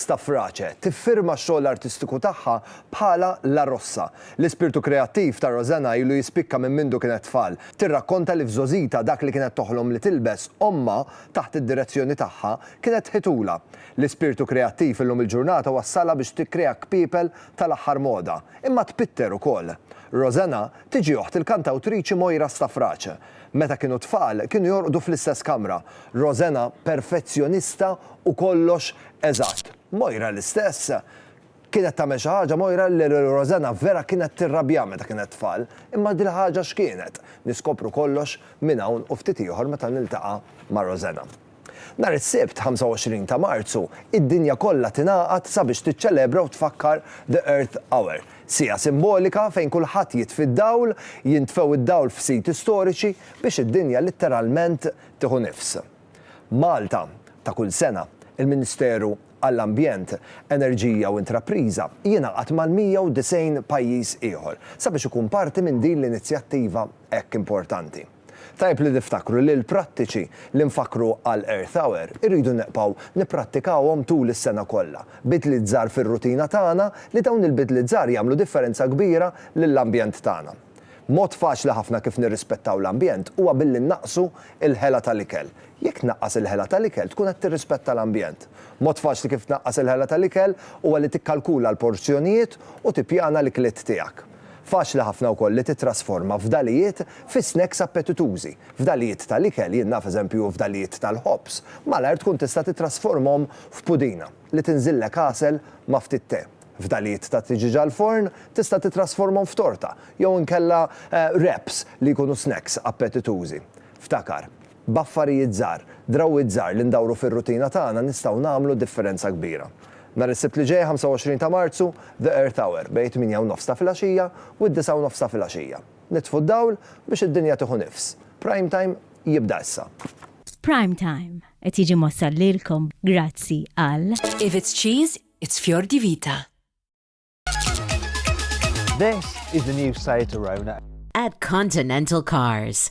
Stafrace tiffirma x-xogħol artistiku tagħha bħala La Rossa. L-ispirtu kreattiv ta' Rosanna ilu jispikka minn mindu kienet tfal. Tirrakkonta li f'żogħżitha dak li kienet toħlom li tilbes, ommha, taħt id-direzzjoni tagħha, kienet tħitulha. L-ispirtu kreattiv illum il-ġurnata wassalha biex tikkrea kpiepel tal-aħħar moda, imma tpitter ukoll. Rosanna tiġi oħt il-kantawtriċi Moira Stafrace. Meta kienu tfal, kienu jorqdu fl-istess kamra. Rosena, perfezzjonista u kollox eżatt. Moira l-istess. Kienet tagħmel xi ħaġa Moira li lil Rosena vera kienet tirrabja meta kienet tfal. Imma dil-ħaġa x'kienet? Niskopru kollox minn hawn u ftit ieħor meta niltaqa' ma' Rosena. Nhar is-Sibt, 25 ta' Marzu, id-dinja kollha tingħaqad sabiex tiċċelebra u tfakkar The Earth Hour, siegħa simbolika fejn kulħadd jitfi d-dawl, jintfew id-dawl f'siti storiċi biex id-dinja litteralment tieħu nifs. Malta, ta' kull sena, il-Ministeru għall-Ambjent, Enerġija u Intrapriża jingħaqad mal-190 pajjiż ieħor sabiex ikun parti minn din l-inizjattiva hekk importanti. Tajjeb li niftakru li l-prattiċi li nfakkru għal Earth Hour irridu neqbgħu nipprattikawhom tul is-sena kollha. Bidliet żgħar fir-rutina tagħna li dawn il-bidliet żgħar jagħmlu differenza kbira lill-ambjent tagħna. Mod faċli ħafna kif nirrispettaw l-ambjent huwa billi nnaqqsu l-ħela tal-ikel. Jekk tnaqqas il-ħela tal-ikel tkun qed tirrispetta l-ambjent. Mod faċli kif tnaqqas il-ħela tal-ikel huwa li tikkalkula l-porzjonijiet u tippjana l-ikliet tiegħek. Faċli ħafna wkoll li tittrasforma fdalijiet fi snacks appetitużi. Fdalijiet tal-ikel, jien naf eżempju fdalijiet tal-ħobż, malajr tkun tista' tittrasformhom f'pudina li tinżillek għasel ma' ftit te. Fdalijiet ta' tiġieġ għall-forn tista' tittrasformhom f'torta jew inkella wraps li jkunu snacks appetitużi. Ftakar, B'affarijiet żgħar, drawwiet żgħar li ndawru fir-rutina tagħna nistgħu nagħmlu differenza kbira. Nhar is-Sibt li ġej, 25 ta' Marzu, The Earth Hour bejn it-tmienja u nofs ta' filgħaxija u d-disgħa u nofs ta' filgħaxija. Nitfu d-dawl biex id-dinja tieħu nifs. Prime Time jibda issa. Prime Time qed jiġi mwassal lilkom grazzi għal. If it's cheese, it's Fior di Vita. This is the new Seat Arona. At Continental Cars.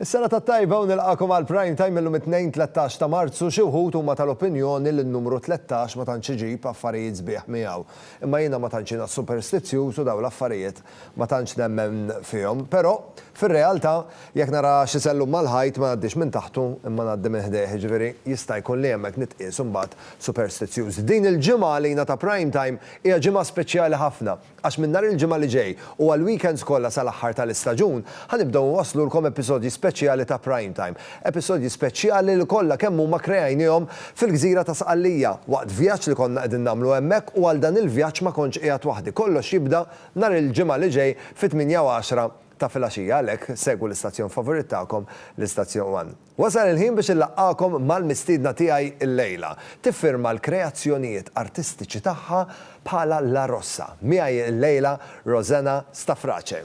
Is-sena tat-tajba u nilqagħkom għal Prime Time illum it-Tnejn tlettax ta' Marzu, xi wħud huma tal-opinjoni li n-numru tlettax ma tantx iġib affarijiet sbieħ miegħu. Imma jiena ma tantx jiena superstizzjuż u dawn l-affarijiet ma tantx nemmen fihom. Però, fir-realtà, jekk nara xi sellum mal-ħajt ma ngħaddix minn taħtu imma ngħaddi minn ħdejh, jiġifieri jista' jkun li hemmhekk nitqies imbagħad superstizzjuż. Din il-ġimgħa għalina ta' Prime Time hija ġimgħa speċjali ħafna. Għax minn nhar il-Ġimgħa li ġej u għall-weekends kollha sal-aħħar tal-istaġun, ħa nibdew inwasslulkom episodji speċjali ta' Prime Time. Episodji speċjali li kollha kemm huma kreajnihom fil-gżira ta' Sqallija, waqt vjaġġ li konna qegħdin nagħmlu hemmhekk u għal dan il-vjaġġ ma kontx qiegħed waħdi. Kollox jibda nhar il-Ġimgħa li ġej fit-tmienja u għaxra ta' filgħaxija, għalhekk segwu l-istazzjon favorit tagħkom, l-istazzjon one. Wasal il-ħin biex inlaqqagħkom mal-mistiedna tiegħi llejla. Tiffirma l-kreazzjonijiet artistiċi tagħha bħala l-Arossa. Miegħi llejla Rosanna Stafrace.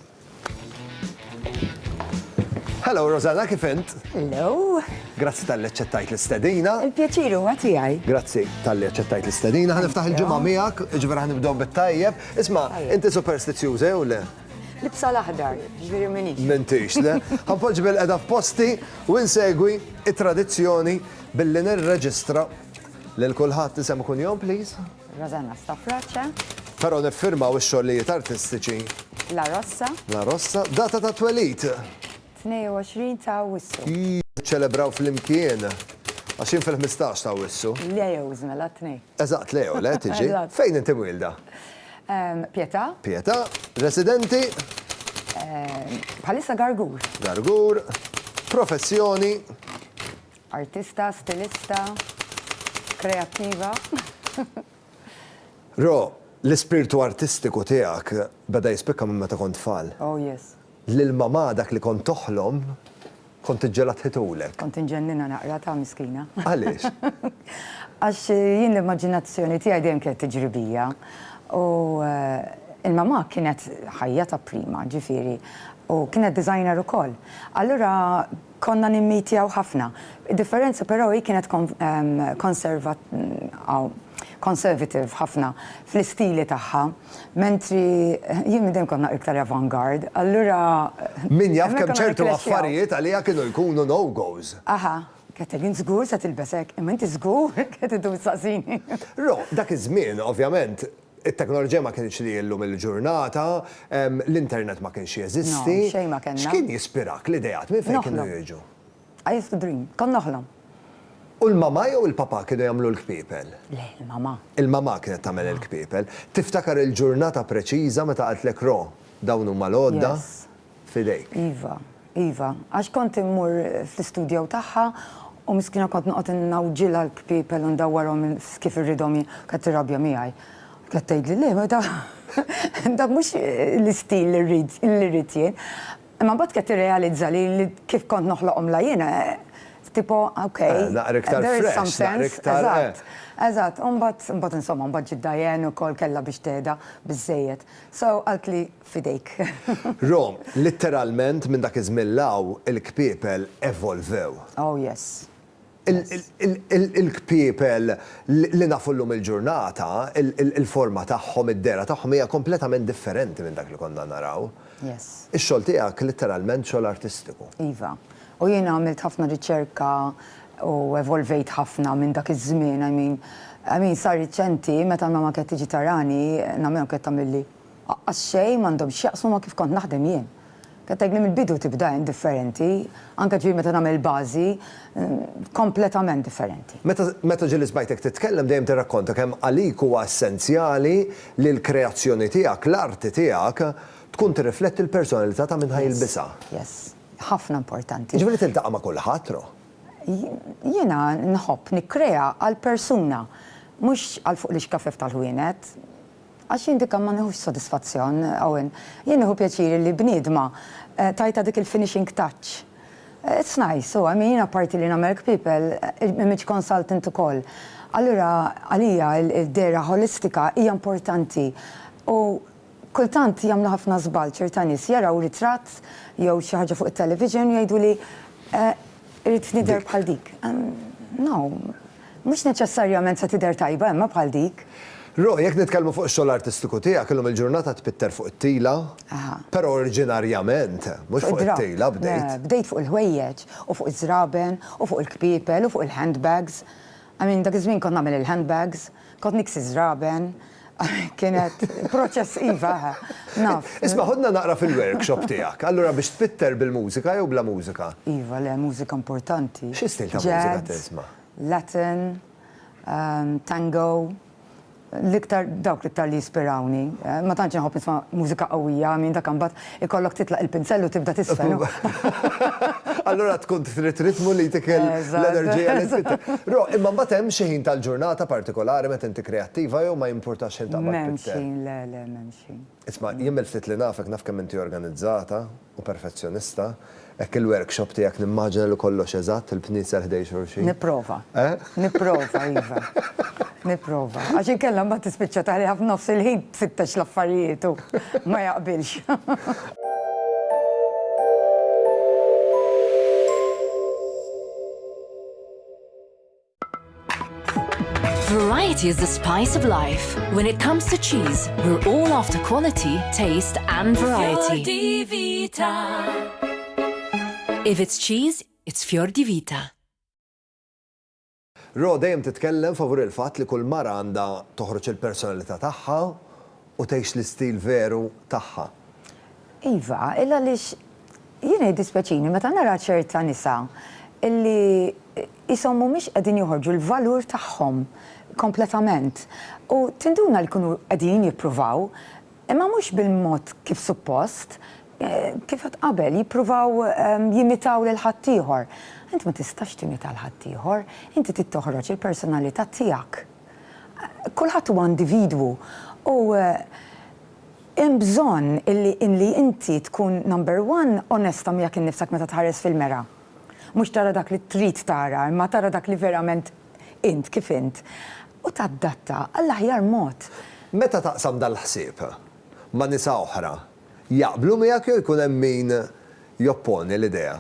Hello Rosanna, kif int? Hello. Grazzi talli aċċettajt l-istedina. Il-pjaċir huwa tiegħi. Grazzi talli aċċettajt l-istedina. Ħaniftaħ il-ġimgħa miegħek, ġifier ħanibdew bit-tajjeb. Isma', inti superstizjuża jew le? Libsa l-aħdar, ġifieri minix. M'intix, le. Ħanpoġġi bil-qeda f'posti u insegwi it-tradizzjoni billi nirreġistra lil kulħadd isem u kunjom, please. Rosanna Stafrace. Però niffirmaw ix-xogħlijiet artistiċi. La Rossa. La Rossa. Data ta' twelid. 22 ta' Awwissu. Jiċċelebraw flimkien. Għax jien fil-ħmistax ta' Awwissu. Leos, mela t-tnejn. Eżatt, Leo, le, tiġi. Eżatt. Fejn inti mwielda? Pietà. Pietà. Residenti? Bħalissa Gargur. Gargur. Professjoni? Artista, stilista, kreattiva. Ro, l-ispirtu artistiku tiegħek beda jispikka minn meta kont tfal. Oh yes. L-ilma ma dak li kont toħlom, kont iġġegħlha tħitulek. Kont inġenninha naqratha, miskina. Għaliex? Għax jien l-immaġinazzjoni tiegħi dejjem kienet tiġri bija. U l-mamà kienet ħajja ta' prima, ġifieri, u kienet designer ukoll. Allura Konna nimmitjaw ħafna. Id-differenza però hi kienet conservative ħafna fl-istili tagħha, mentri jien minn dejjem kont naqra iktar avant-garde, allura. Min jaf kemm ċertu affarijiet għaliha kienu jkunu no-go's. Aha, Ketel, int żgur se tilbes hekk? Imma inti żgur qed iddum issaqsini? Ro, dak iż-żmien, ovvjament, It-teknoloġija ma kinitx li hi llum il-ġurnata, l-internet ma kienx jeżisti. No, xejn ma kellna. X'kien jispirak, l-ideat, minn fejn kienu jiġu? Noħlom. I used to dream. Kont noħlom. U l-mamà jew il-papà kienu jagħmlu l-kpiepel? Le, il-mamà. Il-mamà kienet tagħmel il-kpiepel. Tiftakar il-ġurnata preċiża meta qaltlek Ro, dawn huma l-għodda? Yes. f'idejk. Iva, iva. Għax kont immur fl-istudjow tagħha u miskina kont noqgħod ingħawġilha l-kpiepel u ndawwarhom kif irridhom hi, kienet tirrabja miegħi. Kienet tgħidli le, ma dak mhux l-istil li rrid li rrid jien. Imma mbagħad kienet tirrealizza li kif kont noħloqhomlha jiena tipo ok, there is some sense. Naqra iktar fresh, naqra iktar eżatt. Eżatt. U mbagħad, mbagħad insomma, mbagħad ġiet Diane ukoll kellha biex tehda biżżejjed. So qaltli f'idejk. Rom, litteralment minn dak iż-żmien 'l hawn il-kpiepel evolvew. Oh yes. Il-kpiepel li nafu llum il-ġurnata, il-forma tagħhom, id-dehra tagħhom hija kompletament differenti minn dak li konna naraw. Yes. Ix-xogħol tiegħek litteralment xogħol artistiku. Iva. U jiena għamilt ħafna riċerka u evolvejt ħafna minn dak iż-żmien, I mean, I mean sar riċenti meta l-mama kienet tiġi tarani, nagħmilha u kienet tagħmilli Aqqas xejn m'għandhom x'jaqsmu ma' kif kont naħdem jien. Qed tgħidli mill-bidu tibda indifferenti, anke ġifieri meta nagħmel il-bażi, kompletament differenti. Meta, meta ġieli smajtek titkellem dejjem tirrakkonta kemm għalik huwa essenzjali li l-kreazzjoni tiegħek, l-arti tiegħek, tkun tirrifletti l-personalità ta' min ħa jilbisha. Yes, yes. Ħafna importanti. Jiġifieri tiltaqa' ma' kulħadd, no? Jiena nħobb nikkrea għall-persuna, mhux għal fuq l-ixkafef tal-ħwienet. Għax jien dikka ma nieħux sodisfazzjon, Owen. Jien nieħu pjaċir li bniedma tajtha dik il-finishing touch. It's nice, u I mean, apparti li nagħmelk people, image consultant ukoll. Allura għalija d-dehra ħolistika hija importanti u kultant jagħmlu ħafna żball ċerta nies, jaraw ritratt jew xi ħaġa fuq it-television u jgħiduli, Irrid nidher bħal dik. No. Mhux neċessarjament se tidher tajba imma bħal dik. Ro, jekk nitkellmu fuq ix-xogħol artistiku tiegħek, illum il-ġurnata tpitter fuq it-tila, però oriġinarjament mhux fuq it-tila bdejt. Le, bdejt fuq il-ħwejjeġ u fuq iż-żraben u fuq il-kpiepel u fuq il-handbags. I mean, dak iż-żmien kont nagħmel il-handbags. Kont niksi żraben, kienet proċess iva, naf. Isma' ħudna naqra fil-workshop tiegħek. Allura biex tpitter bil-mużika jew bla mużika? Iva, le, mużika importanti. Xi stil ta' mużika tisma'? Jazz, Latin, tango, l-iktar dawk l-iktar li jispirawni. Ma tantx inħobb nisma' mużika qawwija, I mean dak imbagħad Ikollok titlaq il-pinsell u tibda tisfen. Allura tkun trid ritmu li jtik l-enerġija li trid. Ro, imma mbagħad hemm xi ħin tal-ġurnata partikolari meta inti kreattiva jew ma jimpurtax xejn taqbad pinsell? M'hemmx ħin, le, le, m'hemmx ħin. Isma', jien mill-ftit li nafek naf kemm inti organizzata u perfezzjonista. Hekk il-workshop tiegħek nimmaġina li kollox eżatt, il-bnitser ħdejn xulxin. Nipprova. Nipprova, iva. Nipprova. Għax inkella mbagħad tispiċċa tagħliha f'nofs il-ħin tfittex l-affarijiet u ma jaqbilx. Variety is the spice of life. When it comes to cheese, we're all after quality, taste and variety. If it's cheese, it's Fior di Vita. Ro dejjem titkellem favur il-fatt li kull mara għandha toħroġ il-personalità tagħha u tgħix l-istil veru tagħha. Iva, illa għaliex jiena jiddispjaċini meta nara ċerta nisa li qishom mhumiex qegħdin joħorġu l-valur tagħhom kompletament u tinduna li jkunu qegħdin jippruvaw imma mhux bil-mod kif suppost, kif għedt qabel, jippruvaw jimitaw lil ħaddieħor. Inti ma tistax timita lil ħaddieħor, inti trid toħroġ il-personalità tiegħek. Kulħadd huwa individwu u hemm bżonn illi illi inti tkun number one onesta miegħek innifsek meta tħares fil-mera. Mhux tara dak li trid tara imma tara dak li verament int kif int u tadatta għall-aħjar mod. Meta taqsam dal-ħsieb ma' nisa oħra, jaqblu miegħek jew jkun hemm min jopponi l-idea?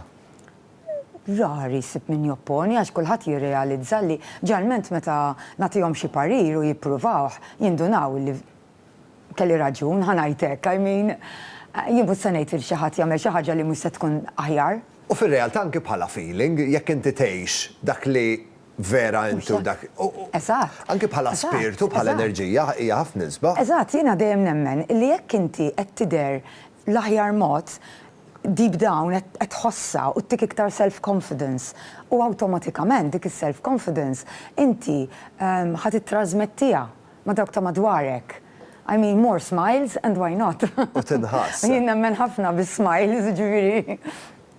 rari ssib min jopponi għax kulħadd jirrealizza li ġarment meta nagħtihom xi parir u jippruvawh jindunaw li kelli raġun, ħa ngħid hekk, I mean jien mhux se ngħid li xi ħadd jagħmel xi ħaġa li mhux se tkun aħjar. U fir-realtà anki bħala feeling, jekk inti tgħix dak li vera inti u dak Eżatt. Anki bħala spirtu, bħala enerġija, hija ħafna isbaħ. Eżatt, jiena dejjem nemmen li jekk inti qed tidher l-aħjar mod, deep down qed tħossha u ttik iktar self confidence u awtomatikament dik is-self confidence inti ħa tittrażmettiha ma' dawk ta' madwarek. I mean more smiles and why not? U tinħass. Jien nemmen ħafna bis-smiles jiġifieri.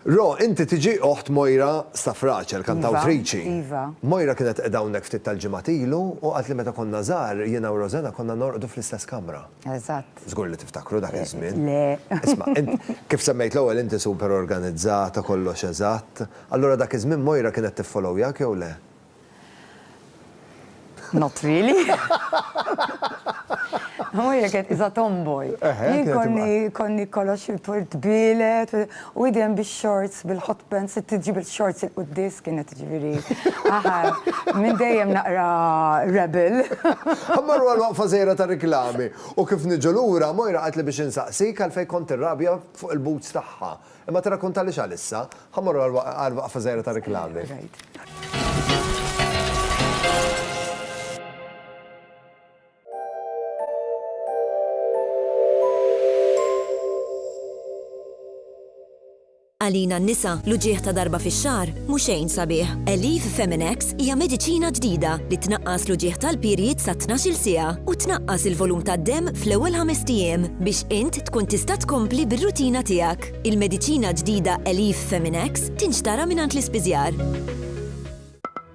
Ro, inti tiġi oħt Moira Stafrace, il-kantawtriċi. Iva, iva. Moira kienet qiegħda hawnhekk ftit tal-ġimgħat ilu u qaltli meta konna żgħar jiena u Rosena konna norqdu fl-istess kamra. Eżatt. Żgur li tiftakru dak iż-żmien. Le. Isma', kif semmejt l-ewwel inti super organizzata, kollox eżatt. Allura dak iż-żmien Moira kienet tiffollowyjak jew le? Not really. Moira kienet qiesha tomboy. Jien konni kollox il-portbielet. U idem bix-shorts, bil-hot pants, sirt iġġib il-shorts 'il quddies kienet jiġifieri aħa minn dejjem naqra rebel. Mmorru għal waqfa żgħira ta' riklami u kif niġu lura Moira qaltli biex insaqsik għalfejn kont tirrabja fuq il-boots tagħha. Imma tirrakkuntalix għalissa. Ħa mmorru għal waqfa żgħira ta' riklami. Għalina n-nisa, l-uġigħ ta' darba fix-xahar mhu xejn sabiħ. Elif Feminex hija mediċina ġdida li tnaqqas l-uġigħ tal-period sa 12-il siegħa u tnaqqas il-volum tad-demm fl-ewwel ħamest ijiem biex int tkun tista' tkompli bir-rutina tiegħek. Il-mediċina ġdida Elif Feminex tinxtara mingħand l-ispiżjar.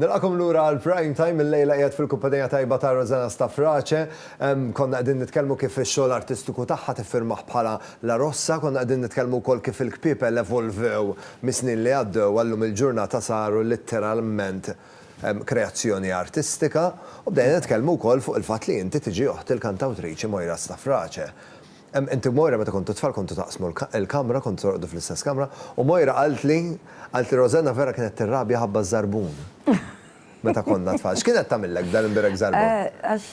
Nilqakom lura għal Prime Time il-lejla qiegħed fil-kumpanija tajba ta' Rosanna Stafrace. Konna qegħdin nitkellmu kif ix-xogħol artistiku tagħha tiffirmah bħala La Rossa, konna qegħdin nitkellmu wkoll kif il-kpiepel evolvew mis-snin li għaddew għal lum il-ġurnata saru litteralment kreazzjoni artistika u bdejna nitkellmu wkoll fuq il-fatt li inti tiġi oħt il-kantawtriċi Moira Stafrace. Inti u Moira meta kontu tfal kontu taqsmu l-kamra, kontu torqdu fl-istess kamra, u Moira qaltli, qaltli Rosanna vera kienet tirrabja ħabba ż-żarbun meta konna tfal. X'kien qed tagħmillek b'dan imbirek żarbun? Għax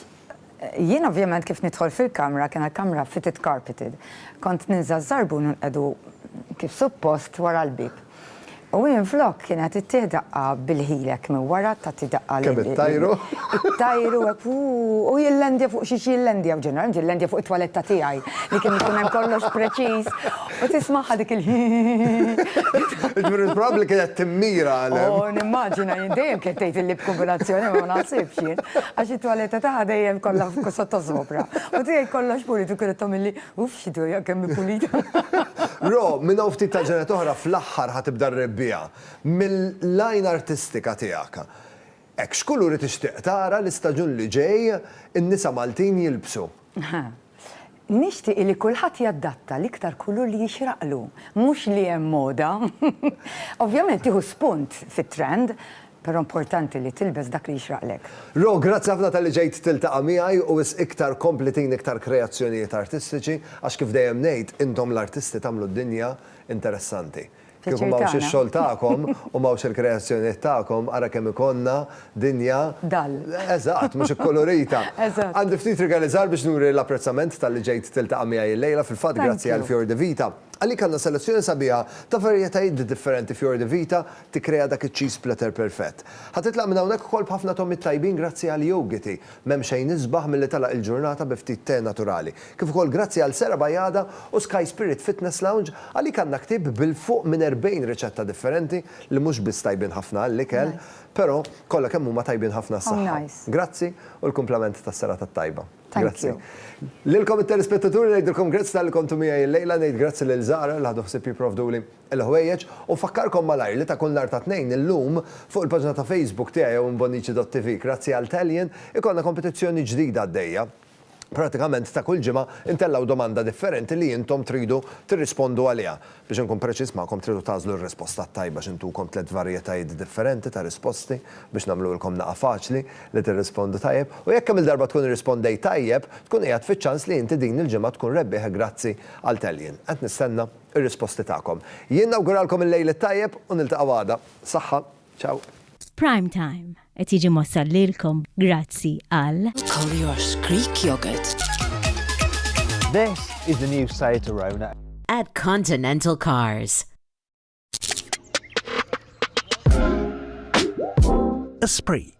jien ovvjament kif nidħol fil-kamra, kien l-kamra fitted carpeted, kont ninża' ż-żarbun u nqiegħdu kif suppost wara l-bieb. U minflok kienet ittih daqqa bil-ħilek minn wara tagħti daqqa lil. Kemm it-tajru. It-tajru hekk uu u jillandja fuq xi jillandja u ġeneralment jillandja fuq it-twaletta tiegħi li kien ikun hemm kollox preċiż u tismagħha dik il hi hi hi. Jiġifieri probabbli kienet timmira għal hemm. Oh nimmaġina jien dejjem kienet tgħid il-lip kombinazzjoni ma naħsibx jien għax it-twaletta tagħha dejjem kollha sottożopra u tiegħi kollox pulit u kienet tagħmilli Uff, xi dwejjaq kemm hi pulita! Ro, minn hawn ftit tal-ġranet oħra fl-aħħar ħa tibda r-rebbiegħa. Mill-għajn artistika tiegħek. Hekk, x'kuluri tixtieq tara l-istaġun li ġej in-nisa Maltin jilbsu? Nixtieq li kulħadd jaddatta l-iktar kulur li jixraqlu, mhux li hemm moda. Ovvjament tieħu spunt fit-trend. Però importanti li tilbes dak li jixraqlek. Ro, grazzi ħafna talli ġejt tiltaqa' miegħi u wisq iktar kompli tini iktar kreazzjonijiet artistiċi għax kif dejjem ngħid intom l-artisti tagħmlu d-dinja interessanti. Kieku ma hawnx ix-xogħol tagħkom u ma hawnx il-kreazzjonijiet tagħkom ara kemm ikollna dinja Dull. Eżatt, mhux ikkulurita. Eżatt. Għandi ftit rigaliżar biex nuri l-apprezzament talli ġejt tiltaqa' miegħi illejla, fil-fatt grazzi għal Fior di Vita. Għalik għandna selezzjoni sabiħa ta' varjetajiet differenti Fior di Vita tikkrea dak iċ-cheese splatter perfett. Ħa titlaq minn hawnhekk ukoll b'ħafna togħmiet tajbin grazzi għal Yougity. M'hemm xejn isbaħ milli tagħlaq il-ġurnata bi ftit tè naturali. Kif ukoll grazzi għal Sera Bajada u Sky Spirit Fitness Lounge, għalik għandna ktieb bil-fuq minn 40 riċetta differenti li mhux biss tajbin ħafna għall-ikel, però kollha kemm huma tajbin ħafna għas-saħħa. Grazzi u l-kumplament tas-serata t-tajba. Grazzi. Lilkom it-telespettaturi ngħidilkom grazzi talli kontu miegħi llejla, ngħid grazzi lil Zahra li ħadu ħsieb jipprovduli. il-ħwejjeġ u nfakkarkom malajr li ta' kull nhar ta' Tnejn illum fuq il-paġna ta' Facebook tiegħi jew inbonnici.tv grazzi għal Talian ikollna kompetizzjoni ġdida għaddejja. Pratikament ta' kull ġimgħa intellgħu domanda differenti li intom tridu tirrispondu għaliha. Biex inkun preċiż magħkom tridu tagħżlu r-risposta t-tajba xi ntukom tliet varjetajiet differenti ta' risposti biex nagħmluhilkom naqa' faċli li tirrispondu tajjeb u jekk kemm il-darba tkun irrispondejt tajjeb tkun qiegħed fiċ-ċans li inti din il-ġimgħa tkun rebbieħ grazzi għal Talian. Qed nistenna. ir-risposti tagħkom. Jien nawguralkom il-lejl it-tajjeb u niltaqgħu għada. Saħħa. Ciao. Prime Time qed jiġi mwassal lilkom grazzi għal. Collier's Greek Yogurt. This is the new Seat Arona. At Continental Cars. Esprit.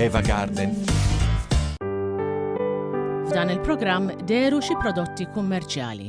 Eva Garden. F'dan il-programm deru xi prodotti kummerċjali.